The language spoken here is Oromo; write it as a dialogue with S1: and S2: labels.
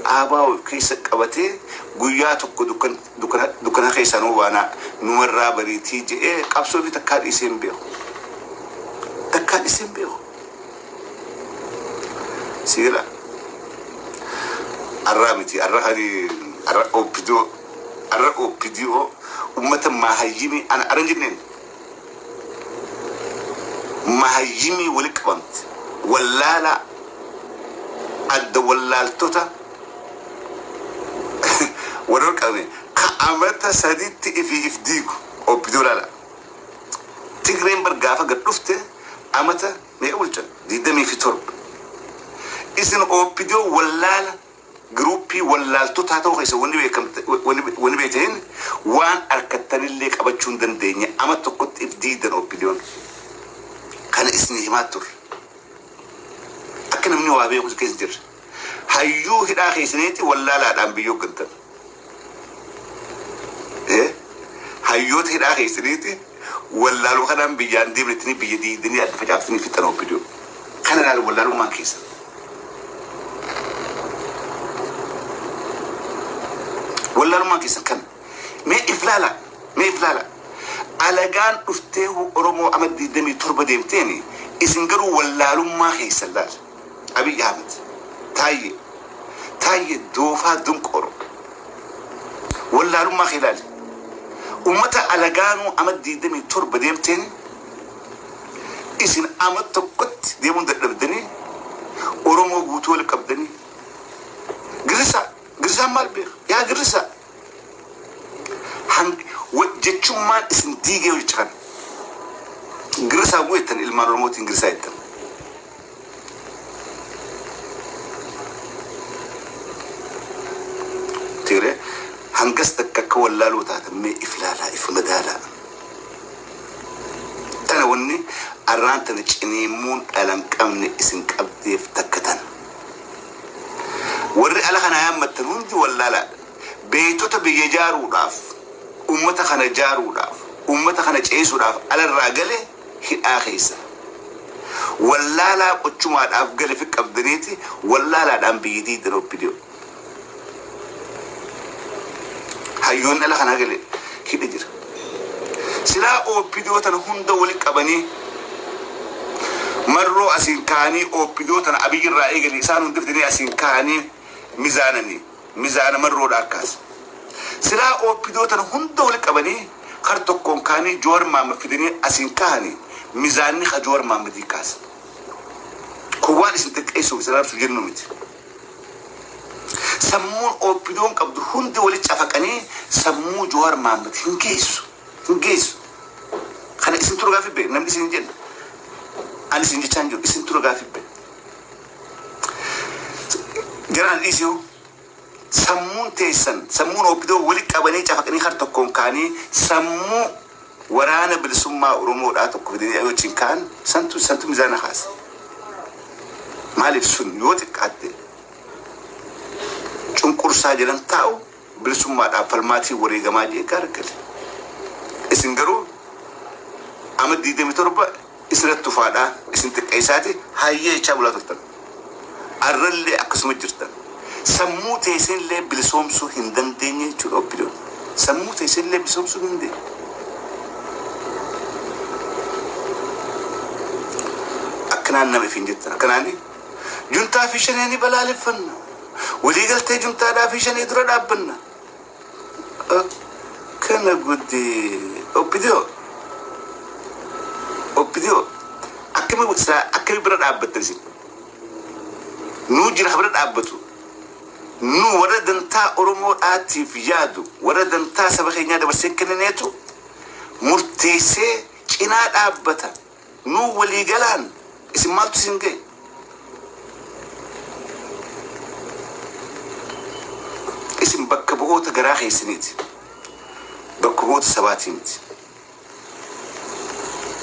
S1: Aabaa of keessa qabatee guyyaa tokko dukkana keessaa nu baanaa, numarraa bariitii jedhee qabsoo ofii takkaa dhiisee hin beeku. Takkaa dhiisee hin beeku. Si gala? Arraa miti, arra kani, arra OPDO, arra OPDO ummata maahayyini ana aran jenneen. Mahayyimii wali qabamte wallaalaa adda wallaaltota wal wal qabame ka amata saditti ifi if diigu opdo lala tigreen bar gaafa gad dhufte amata meeqa bulchan digdamii fi torba isin opdo wallaala Giruuppii wallaaltotaa ta'uu keessan wanni beekam wanni beeytaniin waan arkattanillee qabachuu hin dandeenye ama tokkotti if diigdan OPDOn kana isni himaa turre akka namni waa beeku keessa jirra hayyuu hidhaa keessaniitti wallaalaadhaan biyya hoggantan Eh, hayyoota hidhaa keessaniiti wallaaluu kanaan biyyaan deemnettanii biyya diigdanii adda facaaftanii fixan obbidoo kana ilaala wallaalummaan keessa wallaalummaan keessa kana mee if laala mee if laala alagaan dhuftee oromoo ama 27 deemteeni isin garuu wallaalummaa keessa laala Abiy Ahmed Taayyee Taayyee doofaa dunqooro wallaalummaa kee ilaali ummata alagaanuu amat 27 deemteen isin amat tokkotti deemuun dadhabdanii oromoo guutuu wal qabdanii girrisaa girrisaan maal beeka yaa girrisaa hang wa- jechummaan isin diigee hojjecha kana girrisaa gu'eettan ilmaan oromootiin girrisaa jettan Tiire hangas takka akka wallaaluu taatan mee if laalaa if madaalaa. Tana wanni arraan tana ciniimmuun dhalan qabne isin qabdeef takka tana. Warri ala kana yaammattan hundi wallaalaadha. Beektota biyya ijaaruudhaaf, uummata kana ijaaruudhaaf, uummata kana ceesisuudhaaf alarraa gale hidhaa keessa wallaalaa qochumaadhaaf galifi qabdaniiti wallaalaadhaan biyyitii itti roppidiyoo hayyoon dhala kanaa gale hidha jira silaa oopidiyoo tana hunda wali qabanii marroo asiin kaanii oopidiyoo tana abiyyirraa eegalee isaan hundiftinee asiin kaanii mizaananii Mizaana marroodha akkaas. Silaa opdo tana hunda wali qabanii kar tokkoon kaanii jowar maammad fidanii asiin kahanii mizaanni ka jowar maammadii kaasa. Kun waan isin xiqqeessuuf isin arabsuuf jennuu miti. Sammuun opdoon qabdu hundi wali cafaqanii sammuu jowar maammad hin geessu. Hin geessu. Kana isin tura gaafii bee namni isin hin jenna. Ani isin jechaan jiru isin tura gaafii bee. General Issue sammuun teessan sammuun Oopidoo wali qabanii cafaqanii har tokkoon kaanii sammuu waraana bilisummaa Oromoodhaa tokko fidanii ani wajjin kaan santu santu mizaana kaase. Maaliif sun yoo xiqqaatte cunqursaa jedhan taa'u bilisummaadhaaf falmaatii wareegamaa jee gaar gale. Isin garuu ama 27 isirratti tufaadhaa isin xiqqeessaati hayyee jechaa bulaa turtan. Arrallee akkasuma jirtan. Sammuu teesinillee bilisoomsuu hin dandeenye jechuudha oppidoon. Sammuu teesinillee bilisoomsuu hin dandeenye. Akkanaan nama ifiin jettan. Akkanaan Juntaa fi Shanee ni balaaleffanna. Waliigaltee Juntaadhaa fi Shanee dura dhaabbanna. Kana guddi Oppidiyoo. Oppidiyoo. Akkami silaa akkami bira dhaabbattan isin? Nuu jira bira dhaabbatu. Nu warra dantaa Oromoo dhaatiif yaadu, warra dantaa saba keenyaa dabarsee kennineetu murteessee cinaa dhaabbata. Nuu walii galaan isin maaltu isin gahe? Isin bakka bu'oota garaa keessaniiti. Bakka bu'oota sabaatii miti.